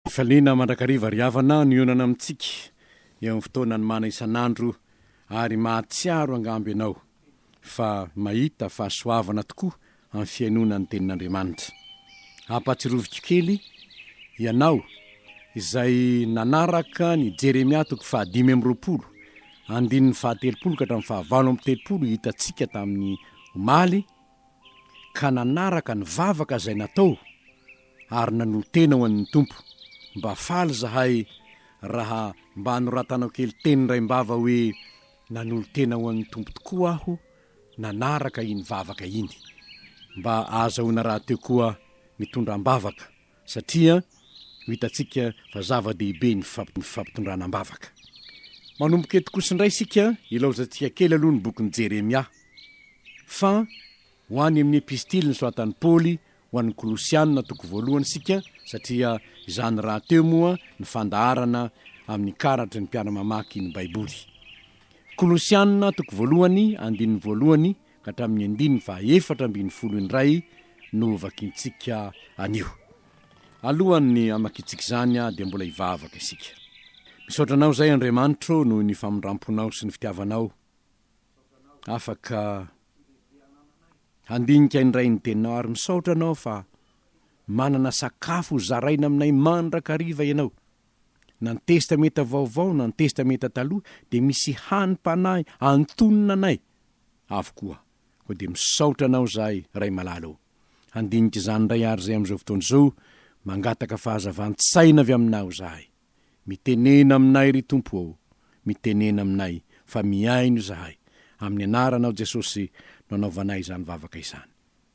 Fifaliana mandrakariva ry havana no hionana amintsika eo amin'ny fotoanan'ny mana isan'andro ary mahatsiaro angamba ianao fa mahita fahasoavana tokoa amin'ny fihainoana ny Tenin'Andriamanitra. Ampahatsiaroviko kely ianao izay nanaraka ny Jeremia toko fahadimy amby roapolo andininy fahatelopolo ka hatramin'ny fahavalo amby telopolo hitantsika tamin'ny omaly, ka nanaraka ny vavaka izay natao ary nanolo-tena ho an'ny Tompo, mba faly izahay raha mba anoratanao kely teny raim-bava hoe nanolo-tena ho an'ny Tompo tokoa aho nanaraka iny vavaka iny. Mba ahazahoana rahateo koa mitondra am-bavaka satria ho hitantsika fa zava-dehibe ny fifampitondrana am-bavaka. Manomboka eto kosa indray isika, ilaozantsika kely aloha ny bokin'i Jeremia, fa ho any amin'ny epistily nosoratan'i Paoly ho an'ny Kolosiana, toko voalohany, isika, satria izany rahateo moa ny fandaharana amin'ny karatry ny mpiara-mamaky ny Baiboly. Kolosiana, toko voalohany, andininy voalohany, ka hatramin'ny andininy faha efatra ambin'ny folo indray no hovakintsika anio. Alohan'ny hamakintsika izany dia mbola hivavaka isika. Misaotra Anao izay Andriamanitro noho ny famindramponao sy ny fitiavanao afaka handinika indray ny teninao ary misaotra Anao fa manana sakafo hozaraina aminay mandrakariva Ianao. na ny Testamenta Vaovao na ny Testamenta Taloha, dia misy hanim-panahy antonona anay avokoa. Koa dia misaotra anao izahay, Ray malala ô. Handinika izany indray àry izay amin'izao fotoana izao, mangataka fahazavan-tsaina avy aminao izahay. Mitenena aminay, ry Tompo ô, mitenena aminay, fa mihaino izahay. Amin'ny Anaranao Jesosy no anaovanay izany vavaka izany.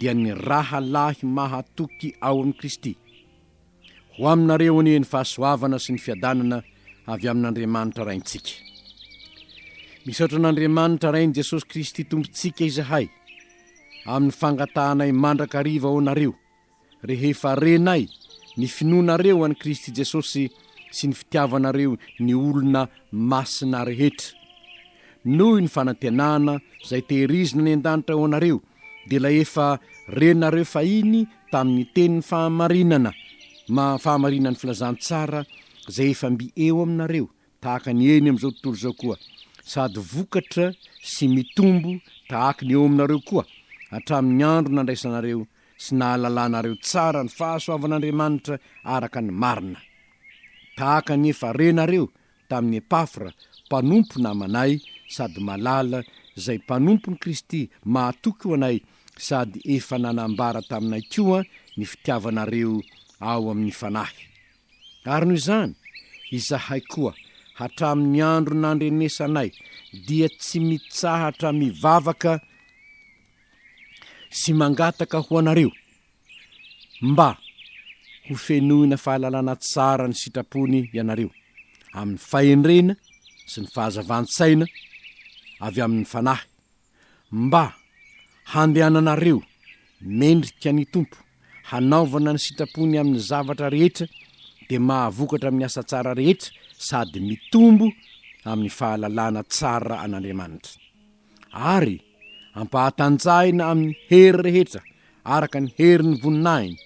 dia ny rahalahy mahatoky ao amin'i Kristy. Ho aminareo anie ny fahasoavana sy ny fiadanana avy amin'Andriamanitra Raintsika. Misaotra an'Andriamanitra Rain'i Jesosy Kristy Tompontsika izahay amin'ny fangatahanay mandrakariva ho anareo. Rehefa renay ny finoanareo an'i Kristy Jesosy sy ny fitiavanareo ny olona masina rehetra. Noho ny fanantenana izay tehirizina any an-danitra ho anareo, dia ilay efa renareo fahiny tamin'ny tenin'ny fahamarinana, ma, fahamarinan'ny filazantsara izay efa mby eo aminareo, tahaka ny eny amin'izao tontolo izao koa, sady vokatra sy mitombo tahaka ny eo aminareo koa hatramin'ny andro nandraisanareo sy nahalalanareo tsara ny fahasoavan'Andriamanitra araka ny marina. Tahaka ny efa renareo tamin'i Epafra, mpanompo namanay sady malala, izay mpanompon'i Kristy mahatoky ho anay sady efa nanambara taminay koa ny fitiavanareo ao amin'ny fanahy. Ary noho izany, izahay koa, hatramin'ny andro nandrenesanay, dia tsy mitsahatra mivavaka, sy mangataka ho anareo mba ho fenoina fahalalana tsara ny sitrapony ianareo amin'ny fahendrena sy ny fahazavan-tsaina avy amin'ny Fanahy mba handehananareo mendrika ny Tompo hanaovana ny sitrapony amin'ny zavatra rehetra dia mahavokatra amin'ny asa tsara rehetra sady mitombo amin'ny fahalalana tsara an'Andriamanitra. ary ampahatanjahina amin'ny hery rehetra araka ny herin'ny voninahiny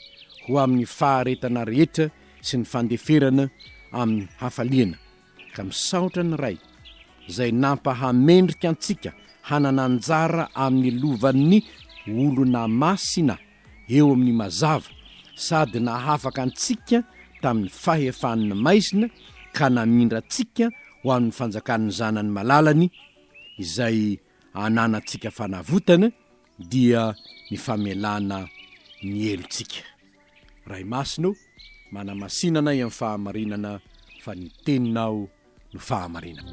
ho amin'ny faharetana rehetra sy ny fandeferana amin'ny hafaliana, ka misaotra ny Ray izay nampahamendrika antsika hanana anjara amin'ny lovan'ny olona masina eo amin'ny mazava sady nahafaka antsika tamin'ny fahefan'ny maizina ka namindra antsika ho amin'ny fanjakan'ny Zanany malalany, izay ananantsika fanavotana dia ny famelana ny helontsika. Ray Masina ô, manamasina anay amin'ny fahamarinana fa ny Teninao no fahamarinana.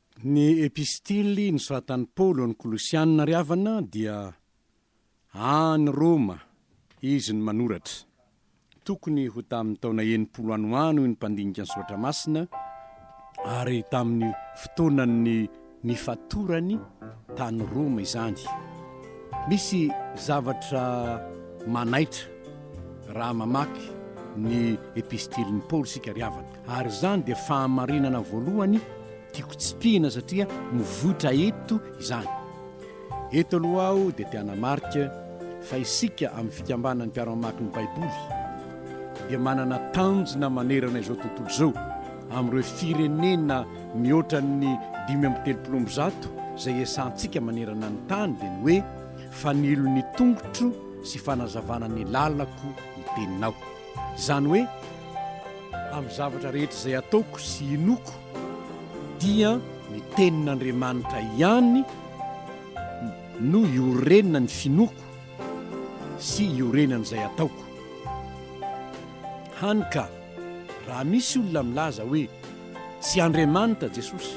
Ny Epistily nosoratan'i Paoly ho an'ny Kolosiana ry havana dia any Roma izy no manoratra. Tokony ho tamin'ny taona enimpolo any ho any hoy ny mpandinika ny Soratra Masina ary tamin'ny fotoanan'ny nifatorany tany Roma izany. Misy zavatra manaitra raha mamaky ny Epistilin'i Paoly isika ry havana. Ary izany dia fahamarinana voalohany tiako tsipihina satria mivoitra eto izany. Eto aloha aho dia te hanamarika fa isika amin'ny Fikambanan'ny Mpiara-mamaky ny Baiboly dia manana tanjona manerana izao tontolo izao amin'ireo firenena mihoatra ny dimy amby telopolo amby zato izay iasantsika manerana ny tany dia ny hoe, Fanilo ny tongotro sy fanazavana ny lalako ny Teninao. Izany hoe, amin'ny zavatra rehetra izay ataoko sy inoako, dia ny Tenin'Andriamanitra ihany no iorenan'ny finoako sy iorenan'izay ataoko. Hany ka, raha misy olona milaza hoe, Tsy Andriamanitra Jesosy,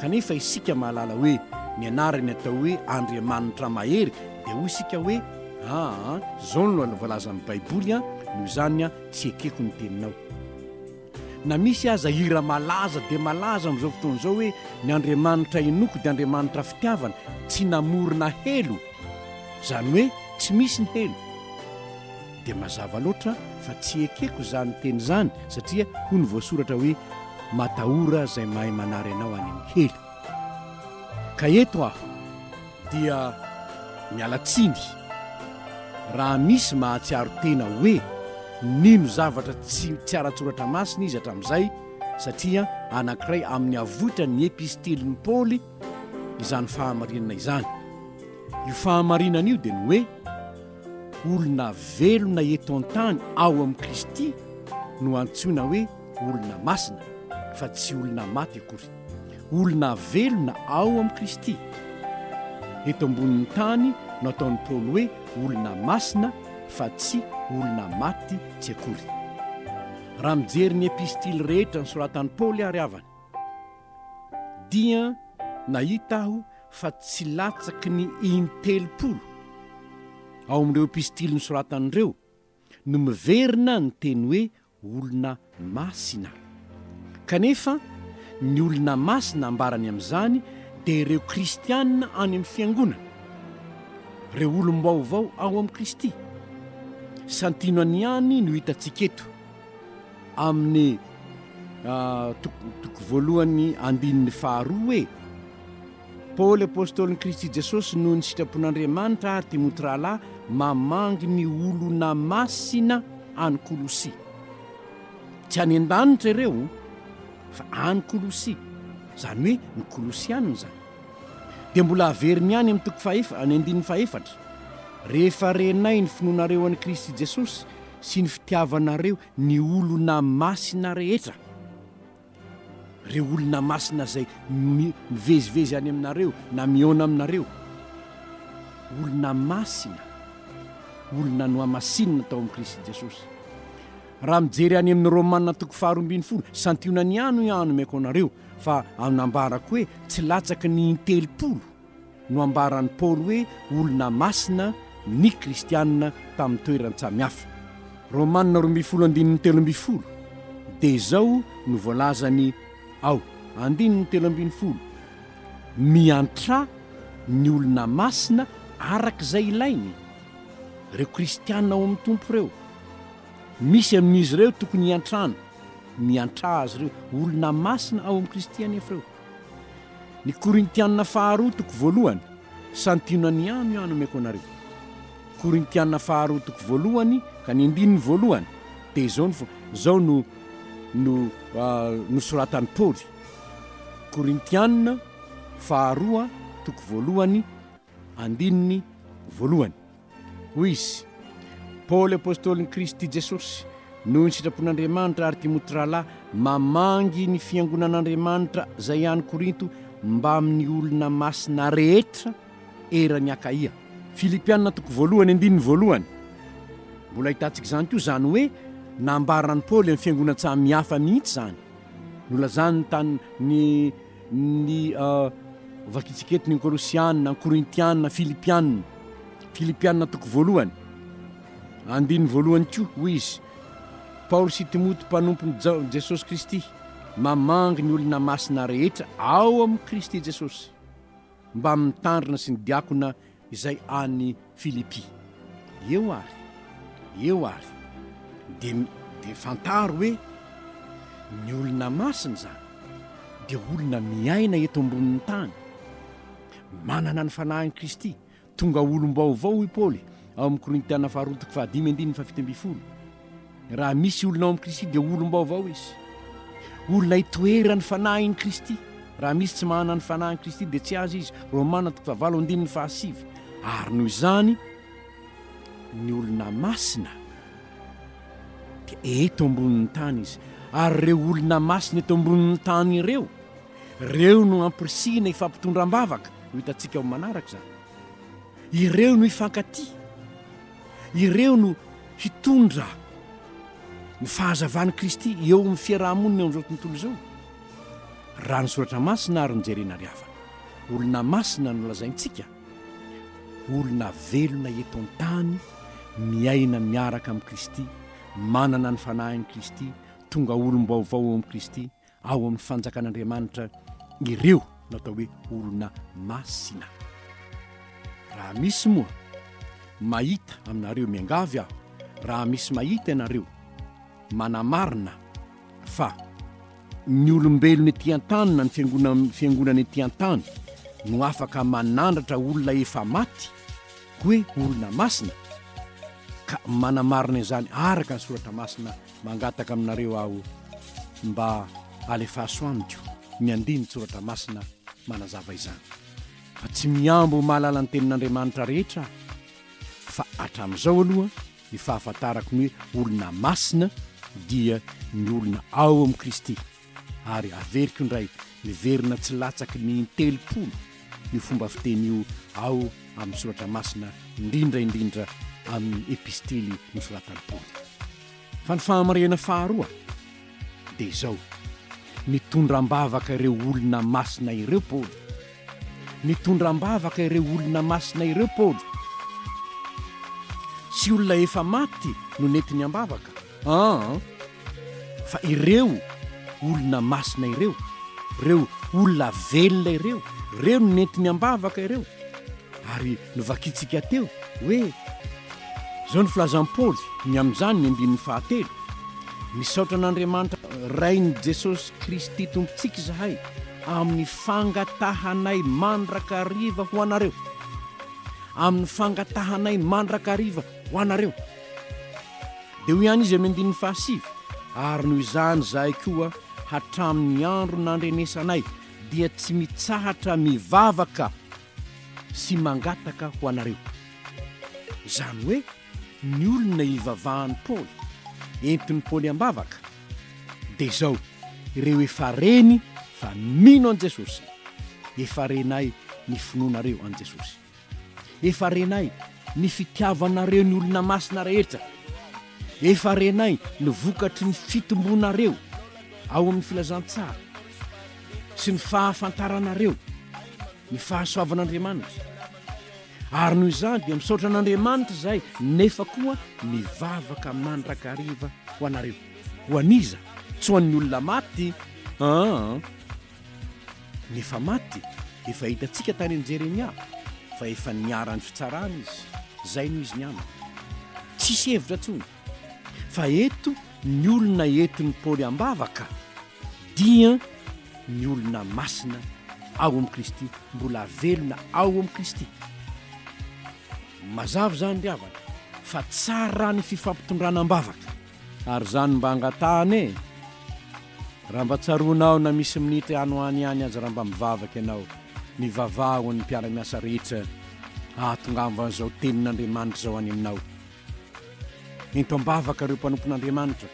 kanefa isika mahalala hoe ny anarany atao hoe Andriamanitra mahery, dia hoy isika hoe, aa, izao no voalazan'ny Baiboly an, noho izany an, tsy ekeko ny teninao. Na misy aza hira malaza dia malaza amin'izao fotoana izao hoe, Ny Andriamanitra henoko dia Andriamanitra fitiavana, tsy namorona helo, izany hoe tsy misy ny helo. Dia mazava loatra fa tsy ekeko izany teny izany satria hoy ny voasoratra hoe matahora izay mahay manary anao any amin'ny helo. Ka eto aho dia miala tsiny raha misy mahatsiaro tena hoe nino zavatra tsy tsy ara-tsoratra masina izy hatramin'izay satria anankiray amin'ny avoitra ny epistilin'i Paoly izany fahamarinana izany. Io fahamarinana io dia ny hoe. Olona velona eto an-tany ao amin'i Kristy no antsoina hoe olona masina, fa tsy olona maty akory. Olona velona ao amin'i Kristy. Eto ambonin'ny tany no ataon'i Paoly hoe olona masina, fa tsy olona maty tsy akory. Raha mijery ny epistily rehetra nosoratan'i Paoly àry havana, dia nahita aho fa tsy latsaky ny in-telopolo ao amin'ireo epistily nosoratany ireo no miverina ny teny hoe olona masina. Kanefa, ny olona masina ambarany amin'izany dia ireo kristiana any amin'ny fiangonana, ireo olom-baovao ao amin'i Kristy. Santionany ihany no hitantsika eto. amin'ny toko voalohany andininy faharoa hoe Paoly apôstôlin'i Kristy Jesosy noho ny sitrapon'Andriamanitra ary Timoty rahalahy mamangy ny olona masina any Kolosia. Tsy any an-danitra ireo fa any Kolosia, izany hoe ny Kolosianina izany. Dia mbola averiny ihany amin'ny toko fahaefatra, any andininy fahefatra, Rehefa renay ny finoanareo an'i Kristy Jesosy sy ny fitiavanareo ny olona masina rehetra, ireo olona masina izay mivezivezy any aminareo na mihaona aminareo, olona masina, olona nohamasinina tao amin'i Kristy Jesosy. Raha mijery any amin'ny Romana toko faharoa ambin'ny folo, santionany ihany hoy aho anomeko anareo, fa anambarako hoe tsy latsaky ny in-telopolo, no ambaran'i Paoly hoe olona masina ny kristiana tamin'ny toeran-tsamy hafa. Romana roa ambin'ny folo andininy telo ambin'ny folo dia izao no voalazany ao andininy telo ambin'ny folo, Miantrà ny olona masina araka izay ilainy ireo kristiana ao amin'ny Tompo ireo. Misy amin'izy ireo tokony hiantrano, miantrà azy ireo, olona masina ao amin'i Kristy anefa ireo. Ny Korintiana faharoa toko voalohany, Santiono an'i Amy aho nomeko anareo. Korintiana faharoa toko voalohany ka ny andininy voalohany dia izao no izao no no nosoratan'i Paoly. Korintiana faharoa toko voalohany andininy voalohany. Hoy izy, Paoly apostolin'i Kristy Jesosy, noho ny sitrapon'Andriamanitra, ary Timoty rahalahy, mamangy ny fiangonan'Andriamanitra izay any Korinto mbamin'ny olona masina rehetra eran'i Akaia. Filipiana toko voalohany andininy voalohany. Mbola ahitantsika izany koa izany hoe nambaran'i Paoly amin'ny fiangonan-tsaha mihafa mihitsy izany. Nolazany tany ny. ny vakitsikety ny Kolosiana, Korintiana, Filipiana, Filipiana toko voalohany, andininy voalohany koa, hoy izy, Paoly sy Timoty mpanompony Jesosy Kristy, mamangy ny olona masina rehetra ao amin'i Kristy Jesosy, mba mitandrina sy ny diakona izay any Filipy. Eo ary, eo ary, dia, dia fantaro hoe ny olona masina izany dia olona miaina eto ambonin'ny tany, manana ny Fanahin'i Kristy, tonga olom-baovao, hoy Paoly ao amin'ny Korintiana Faharoa toko fahadimy andininy fahafito ambin'ny folo. Raha misy olona ao amin'i Kristy dia olom-baovao izy. Olona hitoeran'ny fanahin'i Kristy. Raha misy tsy manana ny fanahin'i Kristy dia tsy azy izy. Romana toko fahavalo andininy fahasivy. Ary noho izany, ny olona masina dia eto ambonin'ny tany izy. Ary ireo olona masina eto ambonin'ny tany ireo, ireo no ampirisihina hifampitondra am-bavaka. Ho hitantsika ao amin'ny manaraka izany. Ireo no hifankatia, ireo no hitondra ny fahazavan'i Kristy eo amin'ny fiaraha-monina eo amin'izao tontolo izao, raha ny Soratra Masina ary no jerena ary havana. Olona masina no lazaintsika, olona velona eto an-tany, miaina miaraka amin'i Kristy, manana ny Fanahin'i Kristy, tonga olom-baovao ao amin'i Kristy, ao amin'ny fanjakan'Andriamanitra ireo natao hoe olona masina. Raha misy moa mahita aminareo, miangavy aho, raha misy mahita ianareo manamarina fa ny olombelona ety an-tany na ny fiangonana fiangonana ety an-tany no afaka manandratra olona efa maty hoe olona masina ka manamarina izany araka ny soratra masina Mangataka aminareo aho mba alefaso amiko ny andinin-tsoratra masina manazava izany. Fa tsy mihambo ho mahalala ny Tenin'Andriamanitra rehetra aho. Fa hatramin'izao aloha, ny fahafantarako ny hoe olona masina dia ny olona ao amin'i Kristy. ary averiko indray miverina tsy latsaky ny in-telopolo io fomba fiteny io ao amin'ny soratra masina indrindra indrindra amin'ny epistily nosoratan'i Paoly. Fa ny fahamarinana faharoa dia izao, nitondra am-bavaka ireo olona masina ireo Paoly. Nitondra am-bavaka ireo olona masina ireo Paoly. Tsy olona efa maty no nentiny am-bavaka. An! Fa ireo olona masina ireo, ireo olona velona ireo, ireo no nentiny am-bavaka ireo. Ary novakintsika teo hoe, izao no filazan'i Paoly ny amin'izany, ny andininy fahatelo, Misaotra an'Andriamanitra Rain'i Jesosy Kristy Tompontsika izahay amin'ny fangatahanay mandrakariva ho anareo. Amin'ny fangatahanay mandrakariva ho anareo. Dia hoy ihany izy amin'ny andininy fahasivy, Ary noho izany izahay koa, hatramin'ny andro nandrenesanay, dia tsy mitsahatra mivavaka sy mangataka ho anareo. Izany hoe ny olona ivavahan'i Paoly, entin'i Paoly am-bavaka, dia izao, Ireo efa reny fa mino an'i Jesosy, efa renay ny finoanareo an'i Jesosy. Efa renay ny fitiavanareo ny olona masina rehetra. Efa renay ny vokatry ny fitombonareo ao amin'ny filazantsara sy ny fahafantaranareo ny fahasoavan'Andriamanitra. Ary noho izany dia misaotra an'Andriamanitra izahay nefa koa mivavaka mandrakariva ho anareo. Ho an'iza? Tsy ho an'ny olona maty an! Nefa maty, efa hitantsika tany amin'i Jeremia fa efa niharan'ny fitsarana izy. Izay no izy ny aminy. Tsisy hevitra intsony. Fa eto ny olona entin'i Paoly ambavaka dia ny olona masina ao amin'i Kristy, mbola velona ao amin'i Kristy. Mazava izany ry havana fa tsara ny fifampitondrana ambavaka. Ary zany mba angatahana e! Raha mba tsaroanao na misy minitra any ho any ihany aza raha mba mivavaka ianao, mivavaha ho an'ny mpiara-miasa rehetra hahatongavam'izao tenin'Andriamanitra izao any aminao. Ento am-bavaka ireo mpanompon'Andriamanitra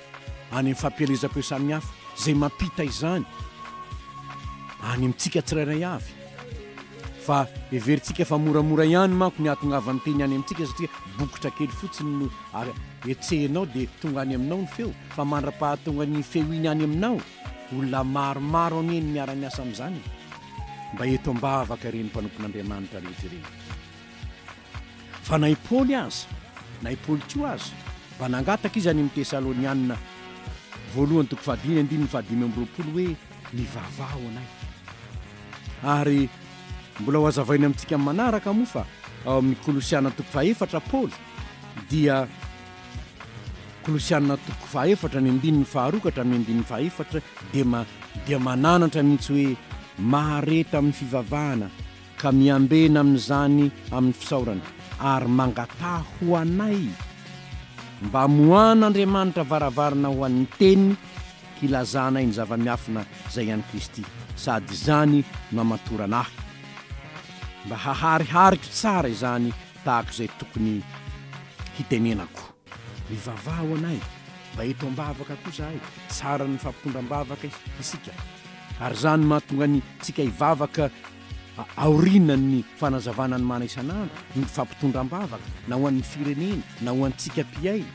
any amin'ny fampielezam-peo samihafa izay mampita izany any amintsika tsirairay avy. Fa heverintsika fa moramora ihany manko ny hahatongavan'ny teny any amintsika satria bokotra kely fotsiny no etsehinao dia tonga any aminao ny feo. Fa mandra-pahatonga iny feo iny any aminao, olona maromaro anie no miara-miasa amin'izany e! Mba eto am-bavaka ireny mpanompon'Andriamanitra rehetra ireny. Fa na i Paoly aza, na i Paoly koa aza, mba nangataka izy any amin'ny Tesalonianina voalohany toko fahadimy andininy fahadimy amby roapolo hoe, Mivavaha ho anay. Ary mbola ho azavainy amintsika amin'ny manaraka moa fa ao amin'ny Kolosiana toko fahefatra Paoly dia Kolosiana toko fahefatra ny andininy faharoa ka hatramin'ny andininy fahefatra dia ma, dia mananatra mihitsy hoe mahareta amin'ny fivavahana ka miambena amin'izany amin'ny fisaorana ary mangataha ho anay mba moahan'Andriamanitra varavarana ho an'ny teny hilazanay ny zava-miafina izay an'i Kristy sady izany no amatorana ahy mba haharihariko tsara izany tahaka izay tokony hitenenako. Mivavaha ho anay mba eto ambavaka koa zahay, tsara ny mifampitondra ambavaka isika ary zany mahatonga ny tsika hivavaka aorinan'ny fanazavana ny mana isan'andro ny mpifampitondra ambavaka na ho an'ny firenena na ho antsika mpihaino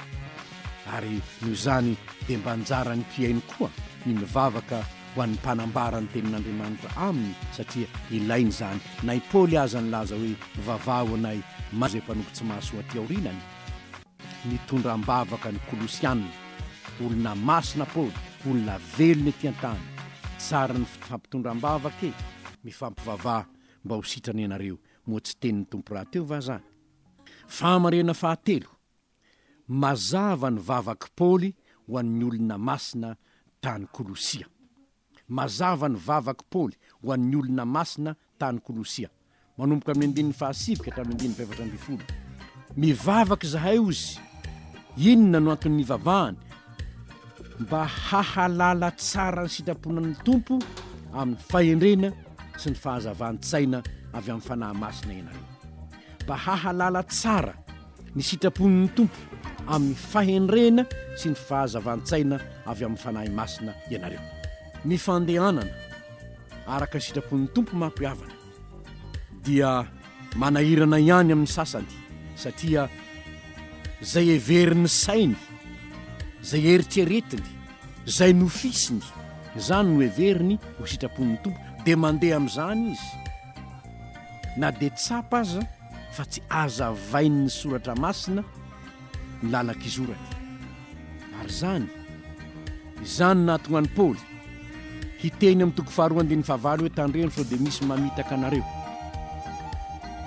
ary noho izany dia mba anjaran'ny mpihaino koa ny mivavaka ho an'ny mpanambara ny tenin'Andriamanitra aminy satria ilaina izany na i Paoly aza nilaza hoe mivavaha ho anay izay mpanompo tsy mahasoa aty aorinany Nitondra am-bavaka ny Kolosianina, olona masina Paoly, olona velona ety an-tany. Tsara ny fifampitondra am-bavaka e! Mifampivavaha mba ho sitrana ianareo, moa tsy teny ny Tompo rahateo va zany? Fahamarinana fahatelo, Mazava ny vavak'i Paoly ho an'ny olona masina tany Kolosia. Mazava ny vavak'i Paoly ho an'ny olona masina tany Kolosia, manomboka amin'ny andininy fahasivy ka hatramin'ny andininy fahefatra ambin'ny folo. Mivavaka izahay, hoy izy. Inona no antony nivavahany? Mba hahalala tsara ny sitrapon'ny Tompo amin'ny fahendrena sy ny fahazavan-tsaina avy amin'ny fanahy masina ianareo. Mba hahalala tsara. ny sitrapon'ny Tompo amin'ny fahendrena sy ny fahazavan-tsaina avy amin'ny Fanahy Masina ianareo. Ny fandehanana araka ny sitrapon'ny Tompo manko havana dia manahirana ihany amin'ny sasany satria izay heverin'ny sainy, izay eritreretiny, izay nofisiny, izany no heveriny ho sitrapon'ny Tompo dia mandeha amin'izany izy. Na dia tsapa aza fa tsy hazavain'ny soratra masina ny lalan-kizorany. Ary izany, izany nahatonga an'i Paoly hiteny amin'ny toko faharoa andininy fahavalo hoe, Tandremo sao dia misy mamitaka anareo,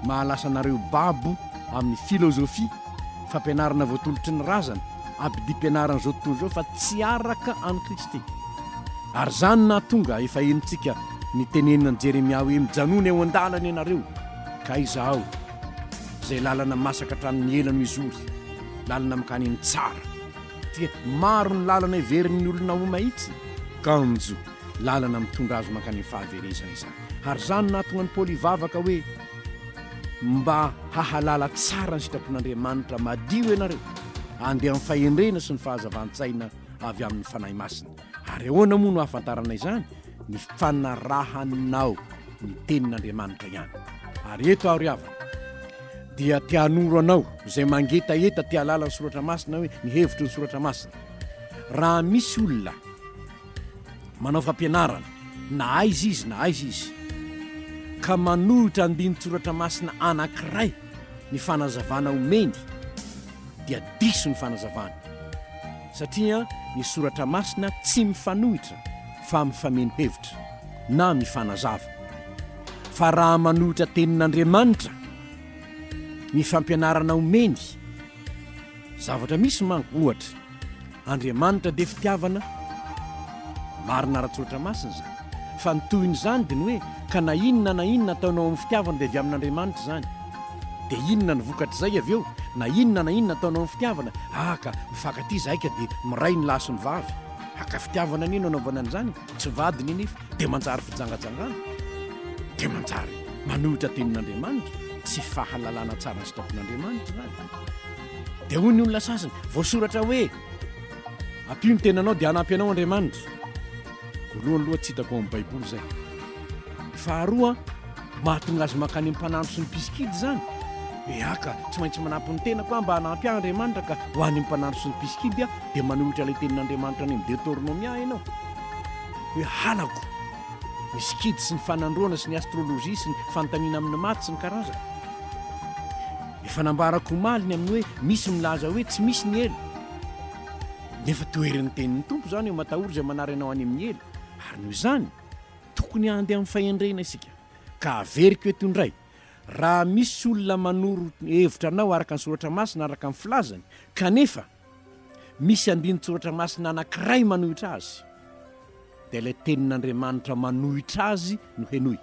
mahalasa anareo babo amin'ny filozofia, fampianarana voatolotry ny razana, abidim-pianaran'izao tontolo izao fa tsy araka an'i Kristy. Ary izany no nahatonga efa henontsika ny tenenina an'i Jeremia hoe, Mijanona eo an-dalana ianareo, ka Izaho, izay lalana masaka hatramin'ny ela no hizory, lalana mankany amin'ny tsara. Dia maro ny lalana heverin'ny olona ho mahitsy, kanjo lalana mitondra azy mankany amin'ny fahaverezana izany. Ary izany no nahatonga an'i Paoly hivavaka hoe. Mba hahalala tsara ny sitrapon'Andriamanitra madio ianareo, andeha amin'ny fahendrena sy ny fahazavan-tsaina avy amin'ny Fanahy Masina. Ary ahoana moa no ahafantarana izany? Ny fanarahanao ny Tenin'Andriamanitra ihany. Ary eto aho ry havana dia te hanoro anao izay mangetaheta te hahalala ny Soratra Masina hoe ny hevitry ny Soratra Masina. Raha misy olona. Manao fampianarana na aiza izy na aiza izy ka manohitra andinin-tsoratra masina anankiray ny fanazavana omeny dia diso ny fanazavany satria ny soratra masina tsy mifanohitra fa mifameno hevitra na mifanazava fa raha manohitra tenin'Andriamanitra ny fampianarana omeny zavatra misy manko ohatra Andriamanitra dia fitiavana Marina ara-tsoratra masina izany Fa ny tohin'izany dia ny hoe Ka na inona na inona ataonao amin'ny fitiavana dia avy amin'Andriamanitra izany Dia inona ny vokatr'izay avy eo Na inona na inona ataonao amin'ny fitiavana Ah ka mifankatia izahay ka dia miray ny lahy sy ny vavy Ah ka fitiavana anie no anaovana an'izany Tsy vadiny anefa dia manjary fijangajangana Dia manjary manohitra tenin'Andriamanitra Tsy fahalalana tsara ny sitrapon'Andriamanitra izany Dia hoy ny olona sasany, voasoratra hoe, Ampio ny tenanao dia hanampy anao Andriamanitra. Voalohany aloha tsy hitako ao amin'ny Baiboly izay. Faharoa, mahatonga azy mankany amin'ny mpanandro sy ny mpisikidy izany. Eà ka, tsy maintsy manampy ny tenako aho mba hanampy ahy Andriamanitra ka ho any amin'ny mpanandro sy ny mpisikidy aho, dia manolotra ilay tenin'Andriamanitra any amin'ny Detornomia ianao. Hoe halako ny sikidy sy ny fanandroana sy ny astrolojia sy ny fanontaniana amin'ny maty sy ny karazany. Efa nambarako omaly ny amin'ny hoe misy milaza hoe tsy misy ny helo. Nefa toherin'ny tenin'ny Tompo izany hoe matahory izay manary anao any amin'ny helo. Ary noho izany, tokony handeha amin'ny fahendrena isika. Ka averiko eto indray, raha misy olona manoro hevitra anao araka ny soratra masina araka ny filazany, kanefa misy andinin-tsoratra masina anankiray manohitra azy, dia ilay tenin'Andriamanitra manohitra azy no henoy.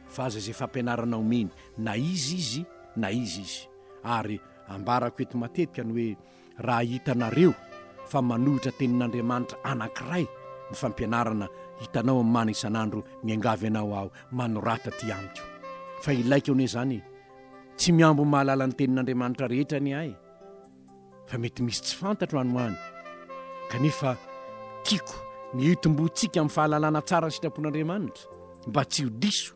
fa aza izay fampianarana omeny na iza izy na iza izy, ary ambarako eto matetika ny hoe raha hitanareo fa manohitra tenin'Andriamanitra anankiray ny fampianarana hitanao amin'ny mana isan'andro miangavy anao aho manorata ity amiko fa ilaiko anie izany e! tsy mihambo mahalala ny tenin'Andriamanitra rehetra anie aho e! fa mety misy tsy fantatro any ho any kanefa tiako ny hitomboantsika amin'ny fahalalana tsara ny sitrapon'Andriamanitra mba tsy ho diso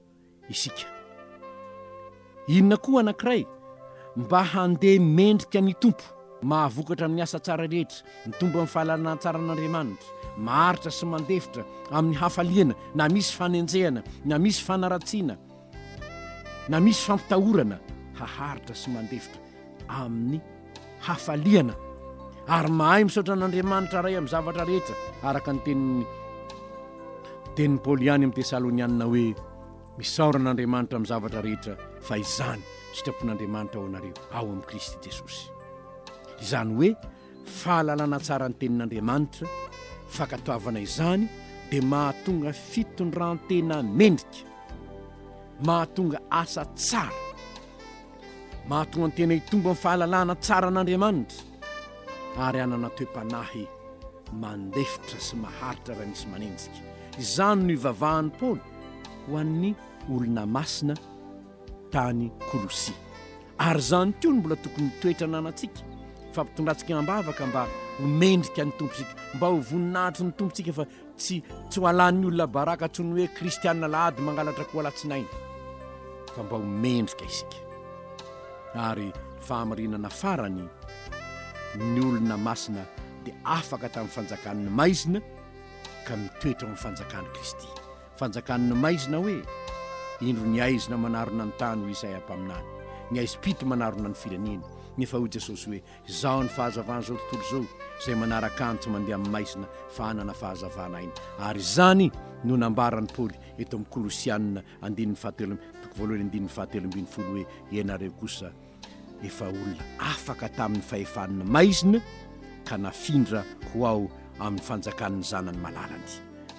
isika. Inona koa anankiray? Mba handeha mendrika ny Tompo, mahavokatra amin'ny asa tsara rehetra, mitombo amin'ny fahalalana tsara an'Andriamanitra, maharitra sy mandefitra amin'ny hafaliana na misy fanenjehana na misy fanaratsiana, Na misy fampitahorana haharitra sy mandefitra amin'ny hafaliana ary mahay misaotra an'Andriamanitra Ray amin'ny zavatra rehetra, araka ny tenin'ny tenin'i Paoly ihany amin'ny Tesalonianina hoe, Misaora an'Andriamanitra amin'ny zavatra rehetra, fa izany sitrapon'Andriamanitra ho anareo ao amin'i Kristy Jesosy. Izany hoe, fahalalana tsara ny tenin'Andriamanitra, fankatoavana izany dia mahatonga fitondran-tena mendrika, mahatonga asa tsara, mahatonga ny tena hitombo amin'ny fahalalana tsara an'Andriamanitra ary hanana toe-panahy mandefitra sy maharitra raha misy manenjika. Izany no ivavahan'i Paoly ho an'ny olona masina tany Kolosia. Ary izany koa no mbola tokony ho toetra ananantsika, fa ampitondratsika am-bavaka mba ho mendrika ny Tompontsika, mba ho voninahitry ny Tompontsika, fa tsy tsy ho alan'ny olona baraka tsy ny hoe Kristianina Alahady mangalatra koa Alatsinainy, fa mba ho mendrika isika. Ary fahamarinana farany, ny olona masina dia afaka tamin'ny fanjakan'ny maizina ka mitoetra ao amin'ny fanjakan'i Kristy. Fanjakan' ny maizina hoe, Indro ny aizina manarona ny tany hoy Isaia mpaminany, ny aizim-pito manarona ny firenena. Nefa hoy Jesosy hoe, Izaho ny fahazavan' izao tontolo izao, izay manaraka Ahy no tsy mandeha amin'ny maizina fa hanana fahazavana aina. Ary izany no nambaran'i Paoly eto amin'ny Kolosiana andininy fahatelo, toko voalohany andininy fahatelo ambin'ny folo hoe, Ianareo kosa, efa olona afaka tamin'ny fahefan'ny maizina ka nafindra ho ao amin'ny fanjakan'ny zanany malalany.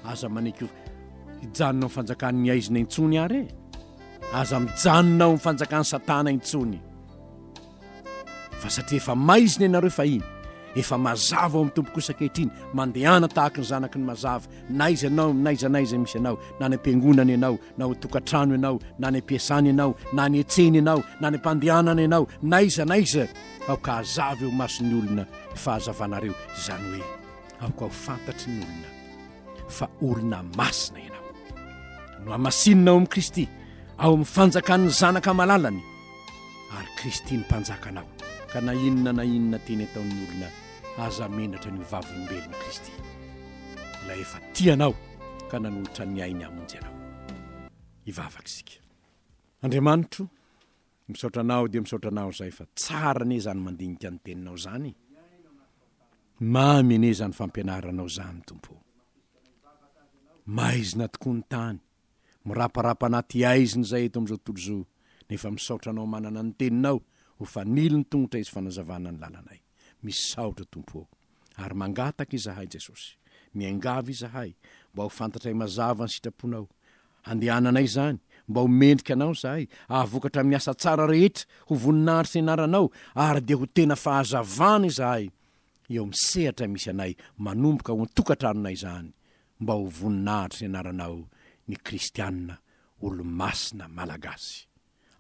Aza manaiky ho hijanona amin'ny fanjakan'ny aizina intsony ary e! Aza mijanona ao amin'ny fanjakan'i Satana intsony. Fa satria efa maizina ianareo fahiny, efa mazava ao amin'ny Tompo kosa ankehitriny, mandehana tahaka ny zanaky ny mazava, na iza ianao, na iza na iza misy anao, na any am-piangonana ianao, na ao tokantrano ianao, na any am-piasana ianao, na any an-tsena ianao, na any am-pandehanana ianao, n'aiza n'aiza, aoka hazava eo mason'ny olona ny fahazavanareo, izany hoe aoka ho fantatry ny olona fa olona masina ianao. Nohamasinina ao amin'i Kristy, ao amin'ny fanjakan'ny Zanaka malalany, ary Kristy ny Mpanjaka anao. Ka na inona na inona teny ataon'ny olona, aza menatra ny ho vavolombelon'i Kristy, ilay efa tia anao. ka nanolotra ny ainy hamonjy anao. Hivavaka isika. Andriamanitro, misaotra anao dia misaotra anao izay fa tsara anie izany mandinika ny teninao izany. Mamy anie izany fampianaranao izany, Tompo ô. Maizina tokoa ny tany, miraparapa anaty aizina izay eto amin'izao tontolo izao, nefa misaotra anao manana ny teninao ho fanilo ny tongotra izy fanazavana ny lalanay. Misaotra Tompo ô! Ary mangataka izahay Jesosy, miangavy izahay mba ho fantatray mazava ny sitraponao handehananay izany, mba ho mendrika anao izahay, ahavokatra amin'ny asa tsara rehetra ho voninahitry ny anaranao ary dia ho tena fahazavana izahay eo amin'ny sehatra misy anay manomboka ao an-tokantranonay izany mba ho voninahitry ny anaranao ny kristiana olo-masina malagasy.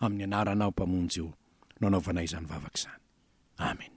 amin'ny anaranao Mpamonjy o no anaovanay izany vavaka izany. Amena.